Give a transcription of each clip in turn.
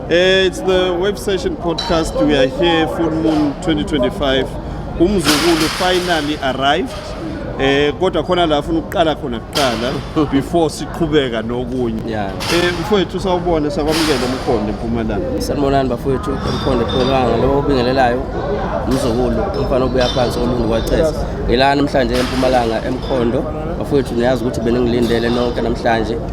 Eh, it's the Web Session podcast. We are here, Full Moon 2025. Umzukulu finally arrived. Eh kodwa khona la ufuna ukuqala khona kuqala before siqhubeka nokunye. Yeah. Eh mfowethu sawubona sakwamukela umkhondo eMpumalanga. Sanibonani bafowethu umkhondo ePhulanga lo obingelelayo umzukulu umfana obuya phansi olungu kwachesa. Ngilana namhlanje eMpumalanga eMkhondo. Bafowethu niyazi ukuthi beningilindele nonke namhlanje.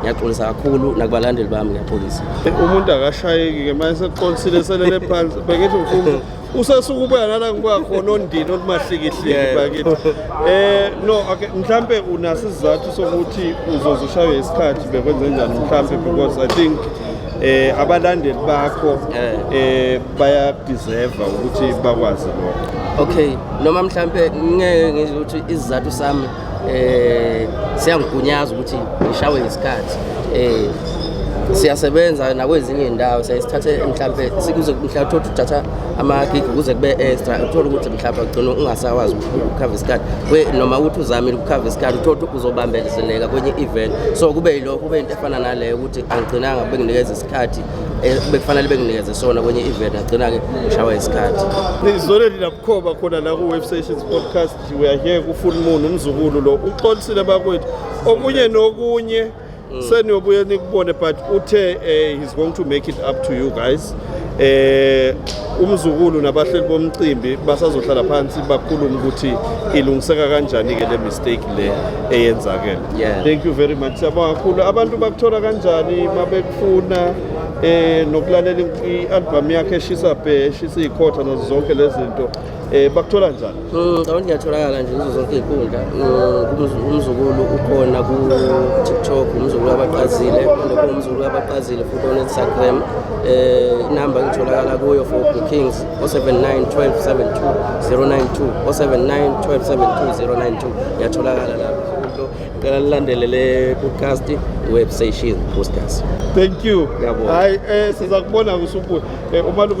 ngiyaxolisa kakhulu nakubalandeli bami ngiyaxolisa umuntu akashayeki-ke manje sekuxolisile selele phansi bengithi mfundo usesuke ubuya nala ngibuya khona ondini olumahlikihliki bakithi um no okay mhlampe unaso isizathu sokuthi uzoze ushaywe isikhathi bekwenze njani mhlampe because i think eh abalandeli bakho eh, eh bayadeserve ukuthi bakwazi lokho okay noma mhlambe ngeke ngizothi isizathu sami eh siyangigunyaza ukuthi ngishawe isikhathi eh siyasebenza nakwezinye indawo siyasithathe mhlawumbe sikuze mhlawumbe uthole uthatha amagigi kuze kube extra uthole ukuthi mhlawumbe ugcina ungasakwazi ukukhava isikhathi noma ukuthi uzamile ukukhava isikhathi uthole ukuthi uzobambezeleka kwenye event so kube yilokho kube into efana naleyo ukuthi angigcinanga benginikeza isikhathi eh, bekufanele benginikeze sona kwenye event agcina-ke ushawa isikhathi izoleli nabukhoba khona la ku-web sessions podcast We are here kuFull Moon umzukulu lo uxolisile bakwethu okunye nokunye mm. seniyobuye nikubone but uthe eh, he's going to make it up to you guys eh umzukulu nabahleli bomcimbi basazohlala phansi bakhulume ukuthi ilungiseka kanjani ke le mistake le eyenzakele yeah. thank you very much siyabonga kakhulu abantu bakuthola kanjani mabekufuna eh nokulalela i-album yakhe eshisa bhe eshisa ikhotha nazo zonke lezinto Eh bakuthola njani? Mm, ngicabanga ngiyatholakala nje kuzo zonke izinkundla. Mm, umzukulu ukhona ku TikTok, umzukulu abaqazile, ukhona ku umzukulu abaqazile futhi on Instagram. Eh inamba ngitholakala kuyo for bookings 0791272092 0791272092 ngiyatholakala lapho. Ngicela nilandele le podcast webstation posters. Thank you. Hayi eh siza kubona kusubuya. Eh umalume